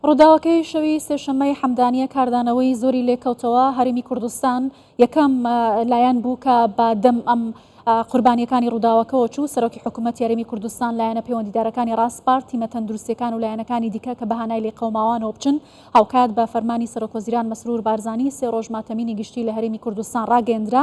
ڕووداوەکەی شەوی سێشەممەی حەمدانیە کاردانەوەی زۆری لێکەوتەوە هەرمی کوردستان یەکەم لایەن بوو کە بە دەم ئەم قوربانیەکانی ڕووداوەکەەوە چوو سەرۆکی حکوومەت یاریمی کوردستان لایەنە پەیوەندیدارەکانی ڕاستپار تیمە تەندروستەکان و لایەنەکانی دیکە کە بەهانای لێ قەوماوانەوە بچن هاوکات بە فەرمانی سەرۆکۆزیران مەسرور بارزانانی سێ ڕۆژ ماتەمینی گشتی لە هەرمی کوردستان ڕاگەندرا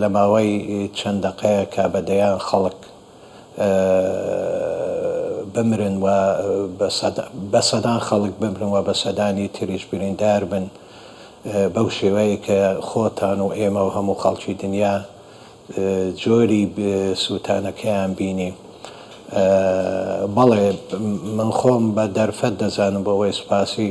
لە ماوەی چەند دەقەیەکا بە دەیان خەڵک بمرن و بە سەدان خەڵک بمرن و بە سەدانی تریش بریندار بن بەو شێوەیەی کە خۆتان و ئێمە و هەموو خەڵکی دنیا جۆری سووتانەکەیان بینی. بەڵێ من خۆم بە دەرفەت دەزانم بۆ ئەوەی سوپاسی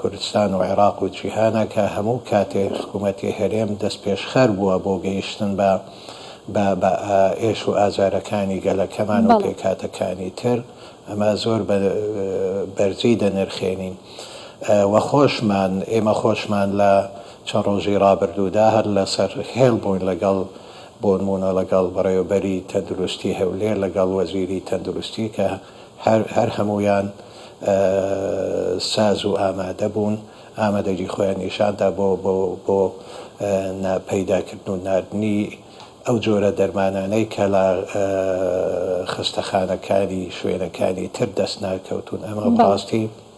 کوردستان و عێراق و جیهانە کە هەموو کاتێک حکوومەتی هەرێم دەستپێشخەر بووە بۆ گەیشتن بە بە ئێش و ئازارەکانی گەلەکەمان و پێکهاتەکانی تر، ئەمە زۆر بە بەرزی دەنرخێنین و خۆشمان، ئێمە خۆشمان لە چەند ڕۆژی ڕابردوودا هەر لەسەر هێڵ بووین لەگەڵ بۆنموونە لەگەڵ بەڕێوەبەری تەندروستی هەولێر، لەگەڵ وەزیری تەندروستی کە. هەر هەر هەموویان ساز و ئامادە بوون، ئامادەگی خۆیان نیشان دا بۆ بۆ بۆ نا پەیدا کردن و ناردنی ئەو جۆرە دەرمانانەی کە لە خەستەخانەکانی شوێنەکانی تر دەست ناکەوتوون، ئەمە بەڕاستی.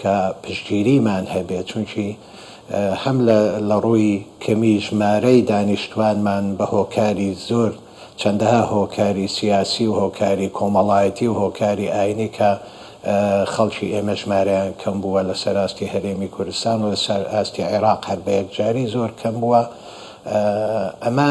کە پشتگیریمان هەبێت، چونکی هەم لە ڕووی کەمی ژمارەی دانیشتوانمان بە هۆکاری زۆر چەندەها هۆکاری سیاسی و هۆکاری کۆمەڵایەتی و هۆکاری ئاینی کە خەڵکی ئێمە ژمارەیان کەم بووە لە سەر ئاستی هەرێمی کوردستان و لە سەر ئاستی عێراق هەر بە یەکجاری زۆر کەم بووە ئەمە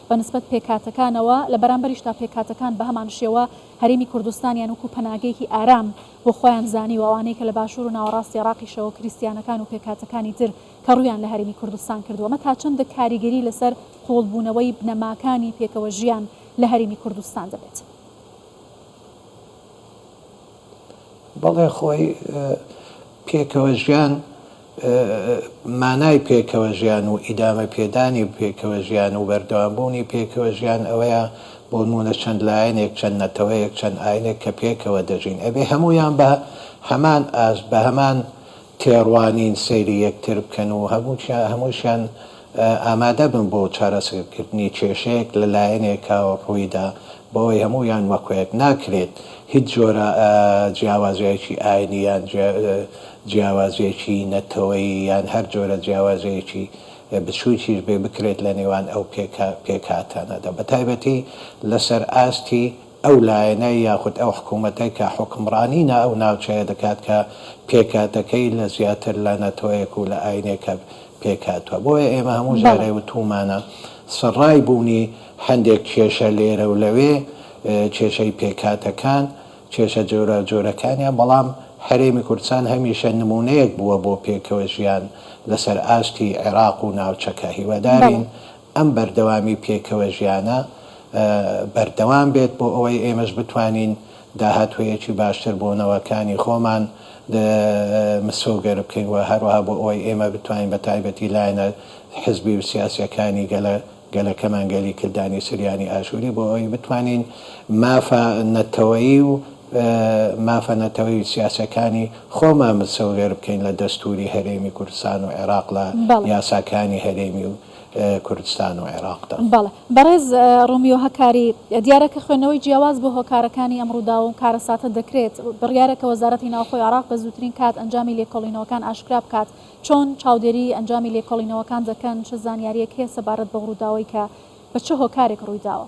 بە نسبەت پێکهاتەکانەوە، لە بەرامبەریشدا پێکهاتەکان بە هەمان شێوە هەرێمی کوردستانیان وەکوو پەناگەیەکی ئارام بۆ خۆیان زانیوە، ئەوانەی کە لە باشوور و ناوەڕاستی عێراقیشەوە کریستیانەکان و پێکهاتەکانی تر کە ڕوویان لە هەرێمی کوردستان کردووە، ئەمە تا چەندە کاریگەری لەسەر قووڵبوونەوەی بنەماکانی پێکەوەژیان لە هەرێمی کوردستان دەبێت؟ بەڵێ خۆی پێکەوە ژیان مانای پێکەوە ژیان و ئیدامە پێدانی پێکەوە ژیان و بەردەوام بوونی پێکەوە ژیان ئەوەیە بۆ نموونە چەند لایەنێک چەند نەتەوەیەک چەند ئاینێک کە پێکەوە دەژین ئەبێ هەموویان بە هەمان ئاست بە هەمان تێڕوانین سەیری یەکتر بکەن و هەمووشیان ئامادەبن بۆ چارەسەرکردنی کێشەیەک لە لایەنێکا ڕوویدا بۆوەی هەموویان وەکۆیەک. ناکرێت هیچ جۆرە جیاوازییەکی ئاینی یان جیاوازییەکی نەتەوەیی یان هەر جۆرە جیاوازییەکی بچووکیش بێ بکرێت لە نێوان ئەو پێکهاتانەدا بەتایبەتی لەسەر ئاستی ئەو لایەنە یاخود ئەو حکوومەتە کە حوکمڕانی نا ئەو ناوچەیە دەکات کە پێکهاتەکەی لە زیاتر لە نەتەوەیەک و لە ئاینێکە پێکهاتووە. بۆیە ئێمە هەموو جارێ بەڵێ. وتوومانە سڕای بوونی هەندێک کێشە لێرە و لەوێ، کێشەی پێکهاتەکان، کێشە جۆراوجۆرەکانیان، بەڵام هەرێمی کوردستان هەمیشە نموونەیەک بووە بۆ پێکەوەژیان لەسەر ئاستی عێراق و ناوچەکە. هیوادارین بەڵێ. ئەم بەردەوامی پێکەوە ژیانە بەردەوام بێت بۆ ئەوەی ئێمەش بتوانین داهاتوویەکی باشتر بۆ نەوەکانی خۆمان مسۆگەر بکەین و هەروەها بۆ ئەوەی ئێمە بتوانین بە تایبەتی لایەنە حزبی و سیاسیەکانی گەلە گەلەکەمان گەلی کلدانی سریانی ئاشوری بۆ ئەوەی بتوانین مافە نەتەوەیی و مافە نەتەوەی و سیاسەکانی خۆمان مسۆگەر بکەین لە دەستوری هەرێمی کوردستان و عێراق لە یاساکانی هەرێمی و کوردستان و عێراقدا. بەڵێ بەڕێز ڕۆمیۆ هەکاری، دیارە کە خوێندنەوەی جیاواز بۆ هۆکارەکانی ئەم ڕووداو و کارەساتە دەکرێت، بڕیارە کە وەزارەتی ناوخۆی عێراق بە زووترین کات ئەنجامی لێکۆڵینەوەکان ئاشکرا بکات، چۆن چاودێریی ئەنجامی لێکۆڵینەوەکان دەکەن، چ زانیارییەک هەیە سەبارەت بەو ڕووداوەی کە بە چ هۆکارێک ڕوویداوە؟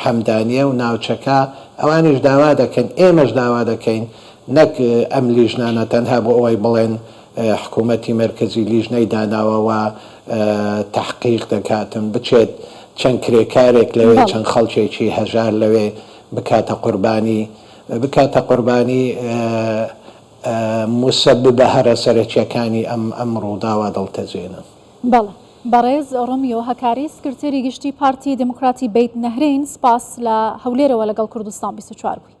حەمدانیە و ناوچەکە ئەوانیش داوا دەکەن ئێمەش داوا دەکەین نەک ئەم لیژنانە تەنها بۆ ئەوەی بڵێن حکومەتی مەرکەزی لیژنەی داناوە و تەحقیق دەکاتن بچێت چەند کرێکارێک لەوێ چەند خەڵکێکی هەژار لەوێ بکاتە قوربانی بکاتە قوربانی موسەببە هەرە سەرەکیەکانی ئەم ئەم ڕووداوە دڵتەزێنن. بەڵێ بەڕێز ڕۆمیۆ هەکاری سکرتێری گشتی پارتی دیموکراتی بەیت نەهرین سپاس لە هەولێرەوە لەگەڵ کوردستان بیست و چوار بووی.